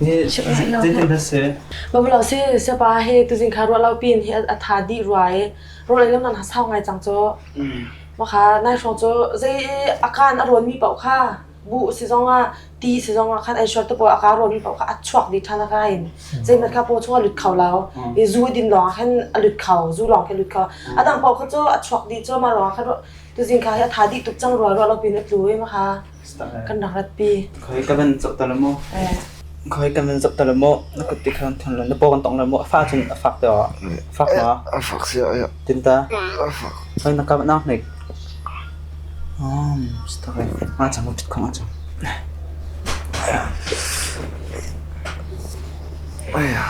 Zeitin na si? Baba lo si sapa he tuzing kha ruah lo pin hi a tha dih rua e. Ruai le man ha sau ngai cang cho. Ma kha nai hrawng cho zei akan a ruan mi pau kha bu si zong ah ti si zong ah khan ai short to po aka ruan mi pau kha a chuak di than aka in zei mat kha po chunga lut kho lao i zu din lawng khan a lut kho zu lawng khan lut kho adang pau kha cho a chuak di cho ma ruang kha tuzing kha hi a tha di tuk chang rua rua lo pin a tlu e ma kha Kan rak ratpi. Khoi ka van chok tal maw? Khoi kan van chok tal maw? Na kut ti khan thon lo na paw kan tong lo maw? A fa cun a fak te wa. Fak ma? A fak sia ya. Tin ta. A fak. Khoi na ka nak nik. Um, stakai. Ma chang chuk khang a chang. Aya.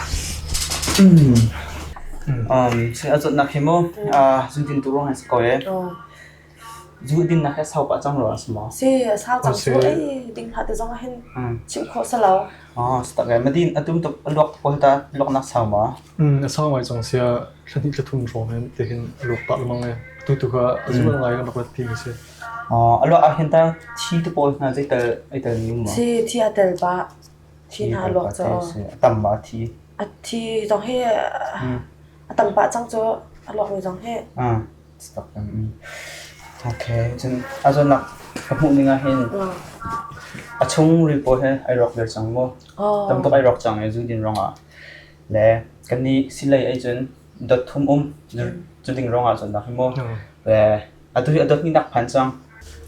Um, sai azot nak himu. Ah, zuntin turong has koe. zu dinnak hi a sau pah cang rua si maw? Si, a sang cang cu. Ei, ding hlah te zong ah hin chim khawh sa lo. Oh, stak e. Ma din atum tuk a luak pawl ta luak nak sau ma? Mm, a sau mai cang sia thlanit le thum hrawm hen te hin a luak pah lamang e. Tu tu ka a zu lang lai kan rak rat ti mi si. Oh, a luak a hin ta thi tu pawl hna zai tal ai tal ni ma? Thi, thi a tel ba. Thi na luak co. Tam ma thi. A thi zong hi a tam pah cang cu a luak mi zong hi. Okay, cun a zonak ka hmuh ning ah hin a chungril pawl he ai rawk viar cang maw? Tam tuk ai rawk cang i zudin rong ah. Le kan nih silei ei cun dot thum um cu ding rong ah cun nak hi maw. Le a tu hi a dot ni nak phan cang.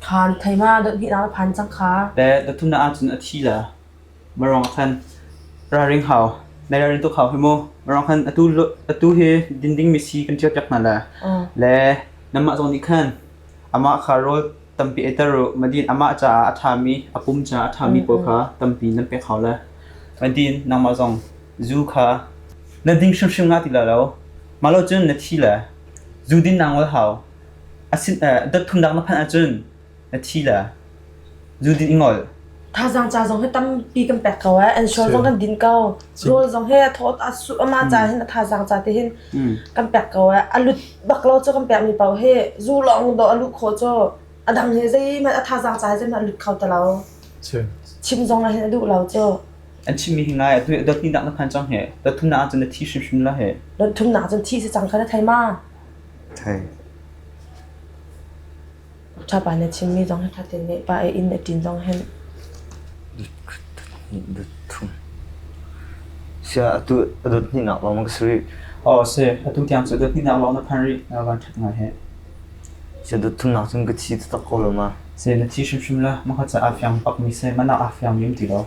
Khan theima dot hit ah phan cang kha. Le dot thum na ah cun a thi la. Marong khan ralring hau, nai ralring tuk hau hi mu. Marong khan atu lu- atu hi dinding mi si kan ṭio ṭek hna le le nanmah zong nih khan amah kha rawl tampi eiter u. Madin amah caah a ṭhami a pum caah a ṭhami pawl kha tampi nan pek hau le. Madin nangmah zong zu kha na ding hrimhrim nga ti la lo. Mah lo cun na thi le zu din nang wal hau. Asin eh, dat thumnak na phanh ahcun Thazaang ca zong hi tampi kan pek ko eh. Insurance zong kan din ko. Rawl zong hi a thawt a su ama ca hin a thazaang ca te hin kan pek ko eh. A lut bak lo cu kan pek mi pau hi zu lawng do a lut kho cu a dang hi zeihmanh a thazaang ca hi zeihmanh a lut kho ta lo. Chim zong hin a duh lo cu. an chimmi hi ngai atu dot ni nak na phan chang he dot thum na cun na thi shim shim la he Don thum nak cun thi si cang kha na thei ma. thai Ṭhapa na chimmi zong hi ṭhatin nehpah a inn a ṭin zong hen. Sia atu a dot hnihnak lawng na ka si rih. Aw si, atu tiang cu dot hnihnak lawng na phan rih. Van ṭhat ngai he. Sia dot thumnak cun ka thi taktak ko lo ma. Si, na thi hrimhrim la. Maka caah fiang bakmi si, mana ah fiang mi um ti lo.